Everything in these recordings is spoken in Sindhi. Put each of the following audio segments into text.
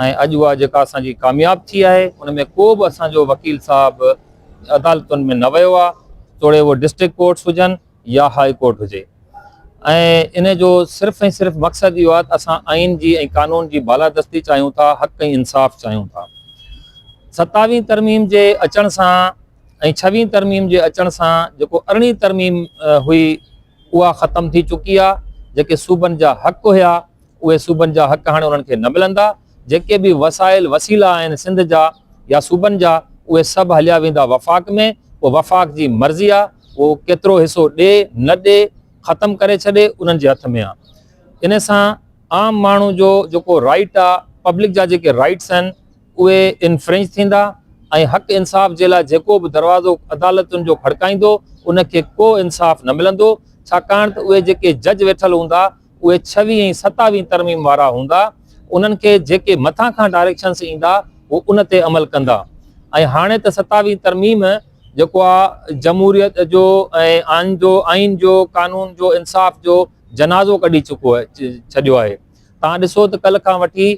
۽ اڄ اها جيڪا اسان جي ڪامياب ٿي آهي ان ۾ ڪو به اسان جو وڪيل صاحب عدالتن ۾ نه ويو آهي توڙي اهو ڊسٽرڪٽ ڪورٽس هجن يا هاء ڪورٽ هجي ۽ ان جو صرف ۽ صرف مقصد اهو آهي ته اسان آئين جي ۽ قانون جي بالادستي چاهيون ٿا حق ۽ انصاف چاهيون ٿا ستاويهين ترميم جي اچڻ سان ۽ ڇويهين ترميم جي اچڻ سان جيڪو ارڙهين ترميم هئي اها ختم ٿي چڪي آهي جيڪي صوبن جا حق هيا اهي صوبن جا حق هاڻي انهن کي نه ملندا، جيڪي به وسائل وسيلا آهن سنڌ جا يا صوبن جا اهي سڀ هليا ويندا وفاق ۾ پوء وفاق جي مرضي آ اهو ڪيترو حصو ڏي نه ڏي ختم ڪري ڇڏي انهن جي هٿ ۾ آ انهي سان عام ماڻهو جو جيڪو رائيٽ آ پبلڪ جا جيڪي رائيٽس آهن اهي انفرينج ٿيندا ۽ حق انصاف جي لاء جيڪو به دروازو عدالتن جو کڙڪائيندو انهن کي ڪو انصاف نه ملندو ڇاڪاڻ ته اهي جيڪي جج ويٺل هوندا اهي ڇويهين ۽ ستاويهين ترميم وارا هوندا انهن کي جيڪي مٿان کان ڊائريڪشنس ايندا هو ان تي عمل ڪندا ۽ هاڻي ته ستاويهين ترميم جيڪو آ جمهوريت جو ۽ آئين جو قانون جو انصاف جو جنازو ڪڍي چڪو ڇڏيو آهي تان ڏسو ته ڪل کان وٺي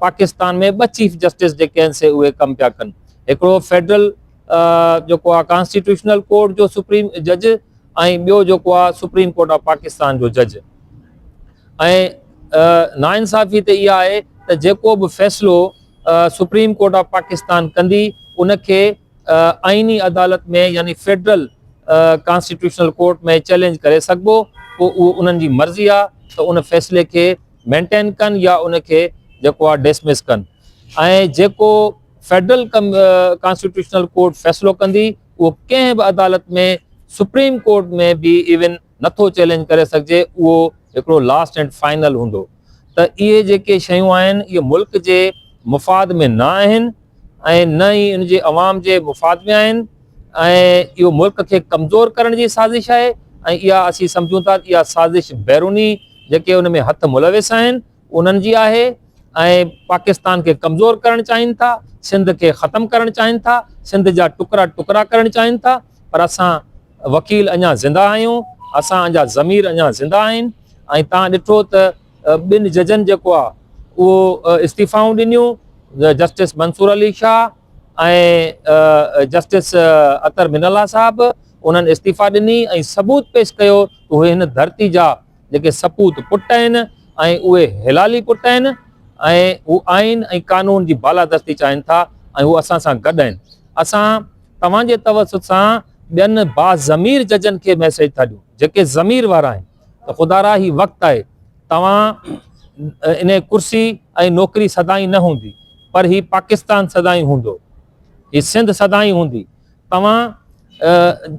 پاڪستان ۾ ٻه چيف جسٽس جيڪي آهن سي اهي ڪم پيا ڪن هڪڙو فيڊرل جيڪو آهي ڪانسٽيٽيوشنل ڪورٽ جو سپريم جج ۽ ٻيو جيڪو آهي سپريم ڪورٽ آف پاڪستان جو جج ۽ نا انصافي ته اها آهي ته جيڪو به فيصلو سپريم ڪورٽ آف پاڪستان ڪندي ان کي آئيني عدالت ۾ يعني فيڊرل ڪانسٽيٽيوشنل ڪورٽ ۾ چيلنج ڪري سگهبو پوء اهو انهن جي مرضي آهي ته ان فيصلي کي مينٽين ڪن يا ان کي جيڪو آهي ڊسمس ڪن ۽ جيڪو فيڊرل ڪانسٽيٽيوشنل ڪورٽ فيصلو ڪندي، اهو ڪنهن به عدالت ۾ سپريم ڪورٽ ۾ به ايون نٿو چئلينج ڪري سگهجي، اهو هڪڙو لاسٽ اينڊ فائنل هوندو ته اهي جيڪي شيون آهن اهي ملڪ جي مفاد ۾ نه آهن ۽ نه ئي ان جي عوام جي مفاد ۾ آهن ۽ اهو ملڪ کي ڪمزور ڪرڻ جي سازش آهي ۽ اها اسين سمجهون ٿا ته اها سازش بيروني جيڪي ان ۾ هٿ ملوث آهن انهن جي آهي ۽ پاڪستان کي ڪمزور ڪرڻ چاهين ٿا، سنڌ کي ختم ڪرڻ چاهين ٿا، سنڌ جا ٽڪرا ٽڪرا ڪرڻ چاهين ٿا پر اسان وڪيل اڃا زنده آهيون، اسان جا ضمير اڃا زنده آهن ۽ تان ڏٺو ته ٻن ججن جيڪو آهي اهو استعيفائون ڏنيون justice Mansoor Ali Shah ۽ justice Athar Minallah صاحب انهن استعيفا ڏني ۽ ثبوت پيش ڪيو ته اهي هن ڌرتي جا جيڪي سپوت پٽ آهن ۽ اهي حلالي پٽ آهن ۽ هو آئين ۽ قانون جي بالادستي چاهين ٿا ۽ هو اسان سان گڏ آهن. اسان توهان جي توسط سان ٻين باضمير ججن کي ميسيج ٿا ڏيون جيڪي ضمير وارا آهن ته خدارا هي وقت آهي توهان انهي ڪرسي ۽ نوڪري سدائين نه هوندي پر هي پاڪستان سدائين هوندو هي سنڌ سدائين هوندي توهان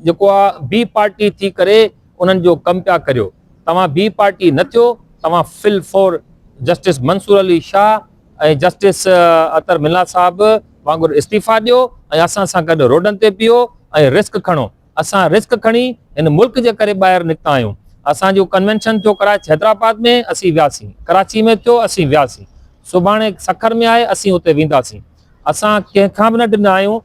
جيڪو آ بي پارٽي ٿي ڪري انهن جو ڪم پيا ڪريو توهان بي پارٽي نه ٿيو توهان فل فور justice Mansoor Ali Shah ۽ justice Athar Minallah وانگر استعيفا ڏيو ۽ اسان سان گڏ روڊن تي پيو ۽ رسڪ کڻو اسان رسڪ کڻي هن ملڪ جي ڪري ٻاهر نڪتا آهيون اسان جو ڪنوينشن ٿيو ڪراچي حيدرآباد ۾ اسين وياسين ڪراچي ۾ ٿيو اسين وياسين سڀاڻي سکر ۾ آهي اسين اتي وينداسين اسان ڪنهن کان به نه ڊندا آهيون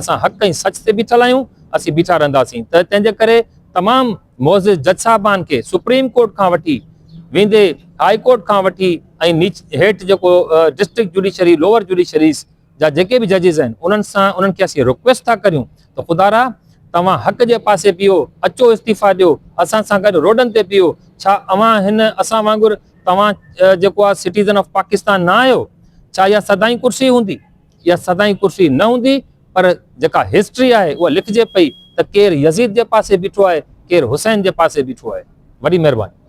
اسان حق ۽ سچ تي بيٺل آهيون، اسين بيٺا رهنداسين ته تنهنجي ڪري تمام معزز جج صاحبان کي سپريم ڪورٽ کان وٺي ويندي هاء ڪورٽ کان وٺي ۽ هيٺ جيڪو ڊسٽرڪٽ جوڊيشري لوور جوڊيشريز جا جيڪي به ججز آهن انهن سان انهن کي اسين رڪويسٽ ٿا ڪريون ته خدا را توهان حق جي پاسي بيهو اچو استعيفا ڏيو اسان سان گڏ روڊن تي بيهو ڇا اوهان هن اسان وانگر توهان جيڪو آهي سٽيزن آف پاڪستان نه آهيو ڇا اها سدائين ڪرسي هوندي اها سدائين ڪرسي نه هوندي پر جيڪا هسٽري آهي اها لکجي پئي ته ڪير يزيد جي پاسي بيٺو آهي ڪير حسين جي پاسي بيٺو آهي. وڏي مهرباني.